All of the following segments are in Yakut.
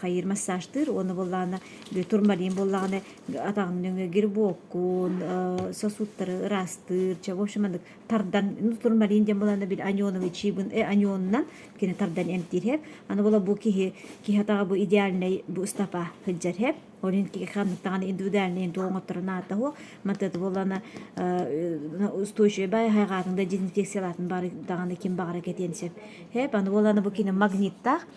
хайыыр массажтыыр уону буоллаҕына турмалиин буоллаҕына атаҕын нөҥө гербоккун сосудтары ыраастыыр чэ в общем аны тардан ну турмалиин диэн буоллаҕына бил аньоновый чиибын э аньонунан кини тардан эмтиир хэп аны буола бу киһи киһи атаҕа бу идеальнай бу ыстапа сылдьар хэп ол ин ханныктаҕына индивидуальнай инту оҥотторун аата хуох матыты буоллана устойчивая хайҕаатын да дезинфекциялаатын бары даҕаны ким баҕара кэтиэн сөп хэп аны буоллана бу кини магниттаах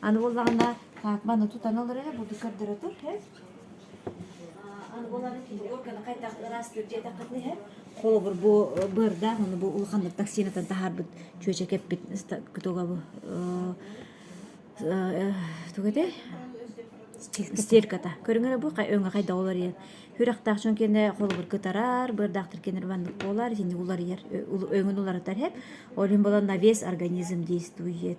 Аны буоллаҕына, Каакман оту тана олор эрэ, бу көрдөрө тур, һэ? Аны буоллаҕына, кинологияны хайдах ыраастыыр диэтэххитинэ иһэ. Холобур, бу быардаах аны бу улаханнык токсинатан таһаарбыт чүөчэк эппит кытога бу туга этэй? Стельката. Көрүҥөрө бу өҥө хайда уларыйар. Хүрэхтээх дьон киэнэ холобур кытарар, быардаахтар киэнер маннык буолар, итинник уларыйар. Өҥүн уларытар хэп. Ол иһин болон на вес организм действует.